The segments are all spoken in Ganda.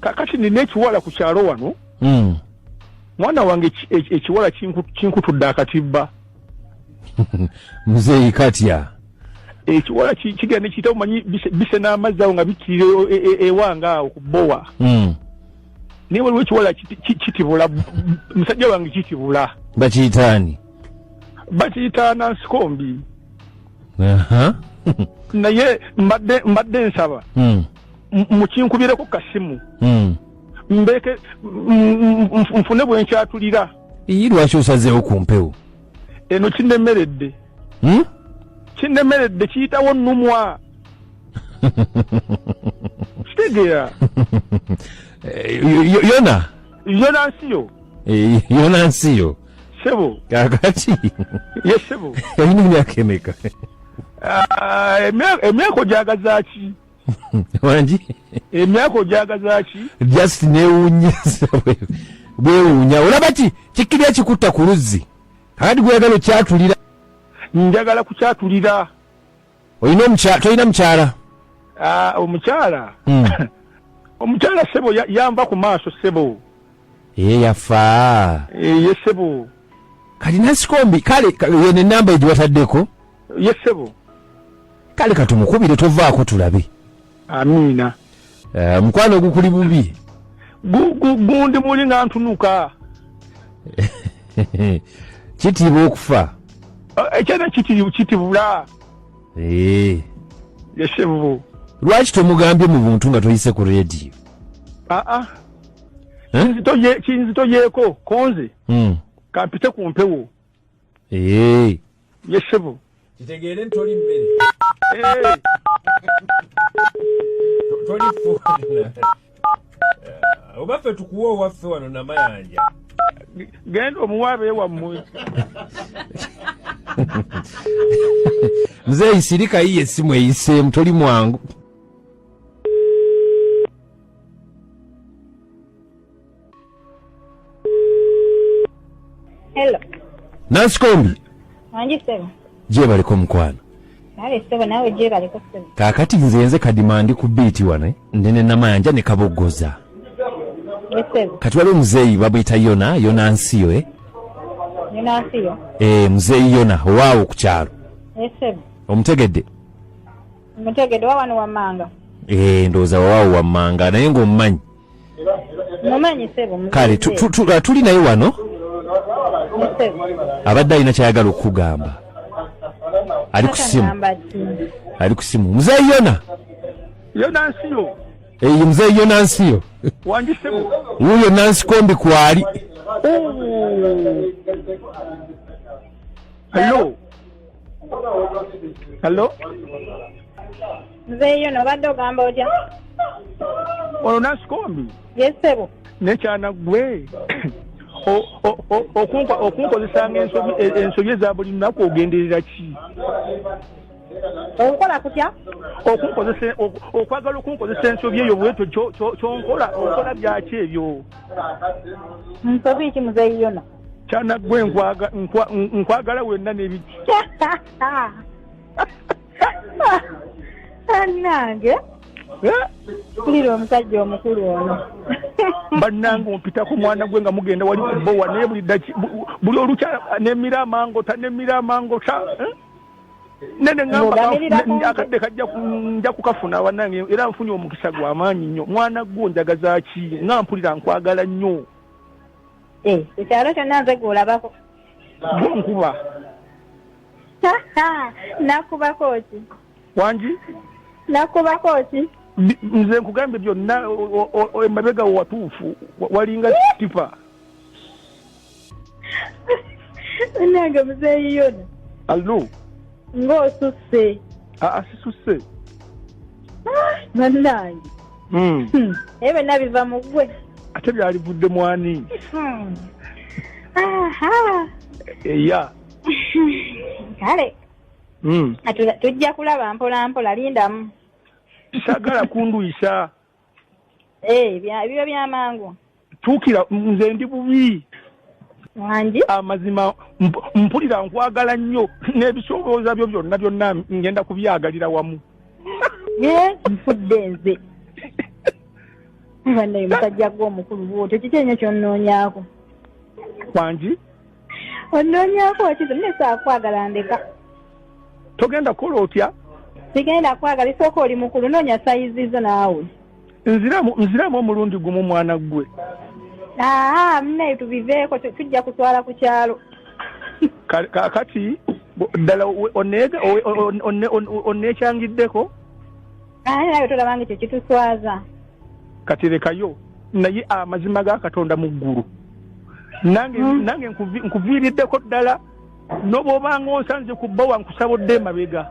kakati nina ekiwala ku kyalo wano mm. mwana wange ekiwala kinkutudde akatibba muzeeyi katya ekiwala kigenda nekiyita omanyi bise n'amazzi awo nga bikkirira e, e, e, ewanga awo ku bowa hmm. naye waliwo ekiwala kitibula musajja wange kitibula bakiyitaani bakiyita nansikombi naye mbadde nsaba hmm. mukinkubireko kasimu hmm. mbeke nfune bwenkyatulira iyi lwaki osazeewo ku mpewo eno kinemeredde hmm? kinemeredde kiyitawo numwa kitegeera eh, yona yona nsiyo eh, yona nsiyo sebo kakati ye sebo yalina emyaka emeka ah, emyaka ogyagazaki wangi emyaka ojagazaki just newunya bwewunya olaba ki kikiri ekikutta ku luzzi adi gweyagala okyatulira njagala kukyatulira olina omukyala tolina mukyala ah, omukyala hmm. omukyala sebo yamba ku maaso sebo ye yafa eh, ye sebo kati nasikombi kale yene namba egiwataddeko ye ssebo kale katumukubire tovaako tulabe amiina eh, mukwano ogukuli bubi gundi muli nga ntunuka kitiibwa okufa eh, ekyana kitibula eh. yesebo lwaki tomugambye mu buntu nga toyise ku rediyo aa ah, ah. kinzitoyeeko konze hmm. kampite ku mpewo Yes, sebo. Kitegeere ntoli mmere. Hey. Toli funa. Oba ffe tukuwa owaffe wano namayanja. Genda omuwaabe wammwe. Mzee isirika hii esimu eyise mtoli mwangu. Hello. Nancy Kombi. Wangi sebo. Je baliko mkwana. Nale sebo nawe je baliko sebo. Kakati nze nze kadima ndi ku beat wane. Eh? Ndene na mayanja ne kabogoza. Yes sebo. Kati wale mzeyi babita yona yona nsiyo eh. Yona nsiyo. Eh mzeyi yona wawo kucharo. Yes sebo. Omutegedde. Omutegedde wawano wamanga. Eh ndoza wawo wamanga naye ngo mmanyi. kale tuli naye wano abadde alina kyayagala okukugamba ali ku simu ali ku simu muzeeyi yona yonansiyo eyi eh, muzeeyi yonansiyo wuyo nansi kombi kwali Hello. Hello. nzeeyo nobadde ogamba otya ono nasikombi yesebo nekyana gwe okunkozesanga ensobi eza buli lunaku ogenderera ki onkola kutya okunkozesa okwagala okunkozesa ensobi eyo bwetyo kyonkola okola byaki ebyo nsobi ki muzeyi yona kyana gwe nkwagala wenna nebiki bannange kulira omusajja omukulu ono bannange ompita ku mwana gwe nga mugenda wali kubowa naye buli olukya nemira amangota nemira amangota eh? nene ngambakadde kajja nja kukafuna bannange era nfunye omukisa gwa maanyi nnyo mwana gwo njagazaki nga mpulira nkwagala nnyo eh, ekyalo kyonna nze gweolabako nkuba nakubako ki wangi nakubako ki nze nkugambye byonna emabega watuufu walinga tipa nange muzeeyi yona allo ng'osusse aa ah, ah, sisusse ah, bannange Hmm. Hmm. naye byonna biva mu gwe ate byalivudde mwani hmm. eya kale tujja kulaba mpola mpola lindamu sagala kunduyisa eh, biba byamangu tuukira nze ndi bubi wangi amazima mpulira nkwagala nnyo n'ebisobooza byo byonna byonna ngenda kubyagalira wamu nfudde nze banaye musajja gwe omukulu bwotyo kiki enyo kyonnoonyako wangi onnoonyako kizo mune saakwagala ndeka togenda kukola otya sigenda kwagala isooka oli mukulu noonya sayizi zo naawe nziramu nziramu omulundi gumu mwana ggwe aa munaye tubiveeko tujja kutwala ku kyalo kakati ddala onneekyangiddeko aye nawe tolabanga ekyo kituswaza kati lekayo naye amazima ga katonda mu ggulu nange hmm. nange nkuviiriddeko ddala nobwobanga onsanze ku bbawa nkusaba odde emabega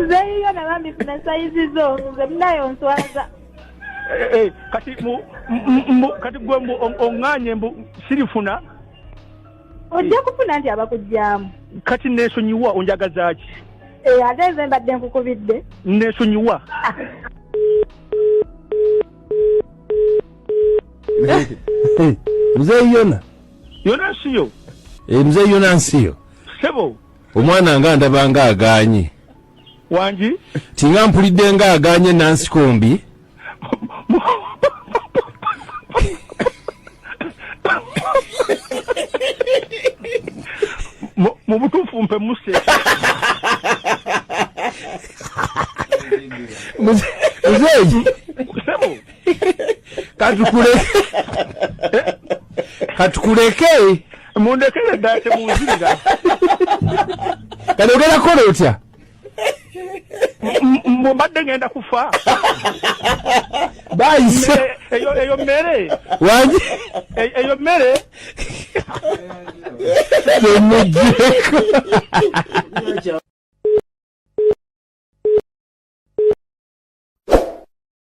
nze yiyo nabambi funa sayizi zo nze munaye onswaza Eh, eh, kati mu- m- m- mbu- kati gwe mbu o- oŋŋaanye mbu sirifuna ojja kufuna nti abakugyamu kati neesonyiwa onjagaza ki Eh, ate nze mbadde nkukubidde neesonyiwa Hey, mzee yona yonasiyo eh, mzee yonasiyo sebo omwana nga ndaba nga aganye wangi tinga mpulidde nga aganye nansikombi mu butuufu mpe muse muzeeyi katukuleke mundekere ddala temunzirira kati ogenda kukola otya mbadde ngenda kufa bayise eyo mmere wagi eyo mmere temujeko